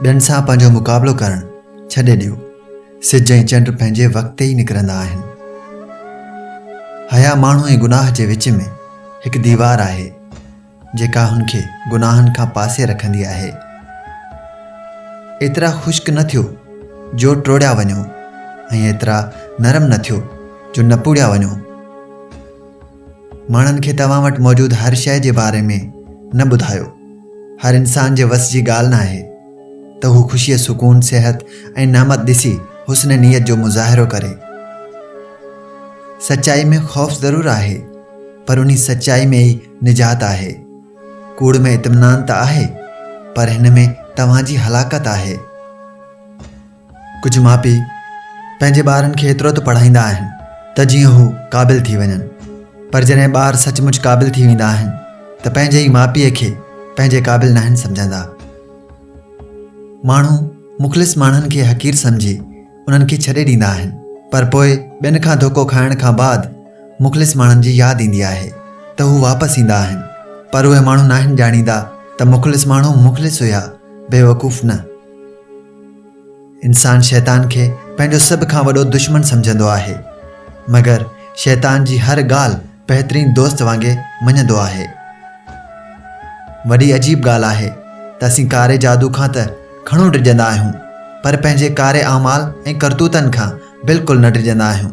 ٻين سان پنهنجو مقابلو ڪرڻ ڇڏي ڏيو سج ۽ چنڊ پنهنجي وقت تي ئي نڪرندا آهن حيا ماڻهو ۽ گناهه جي وچ ۾ هڪ ديوار آهي جيڪا هن کي گناهن کان پاسي رکندي آهي. ايترا خشڪ نه ٿيو جو ٽوڙيا وڃو ۽ ايترا نرم نه ٿيو جو نپوڙيا وڃو. ماڻهن کي توهان وٽ موجود هر شيء جي باري ۾ نه ٻڌايو. هر انسان جي وس جي ڳالهه ناهي ته هو خوشيء، سڪون، صحت ۽ نعمت ڏسي حسن نيت جو مظاهرو ڪري. سچائي ۾ خوف ضرور آهي پر انهي سچائي ۾ ئي نجات آهي. ڪوڙ ۾ اطمينان ته آهي، پر هن ۾ توهان جي هلاڪت آهي. ڪجهه ماء پيء پنهنجي ٻارن کي ايترو ته پڙهائيندا آهن ته جيئن هو قابل ٿي وڃن، پر جڏهن ٻار سچ مچ قابل ٿي ويندا آهن ته پنهنجي ئي ماء پيء کي پنهنجي قابل ناهن سمجهندا. ماڻهو مخلص ماڻهن کي حقير سمجهي، انهن کي ڇڏي ڏيندا آهن پر پوء ٻين کان ڌوڪو کائڻ کان بعد مخلص ماڻهن جي ياد ايندي آهي ته هو واپس ايندا آهن پر اهي ماڻهو ناهن ڄاڻيندا ته مخلص ماڻهو مخلص هيا بيوقوف نه. انسان شيطان کي پنهنجو سڀ کان وڏو دشمن سمجهندو آهي مگر شيطان جي هر ڳالهه بهترين دوست وانگي مڃندو آهي. وڏي عجيب ڳالهه آهي ته اسين ڪاري جادو کان ته گهڻو ڊڄندا آهيون پر پنهنجي ڪاري اعمال ۽ ڪرتوتن کان بلڪل نه ڊڄندا آهيون.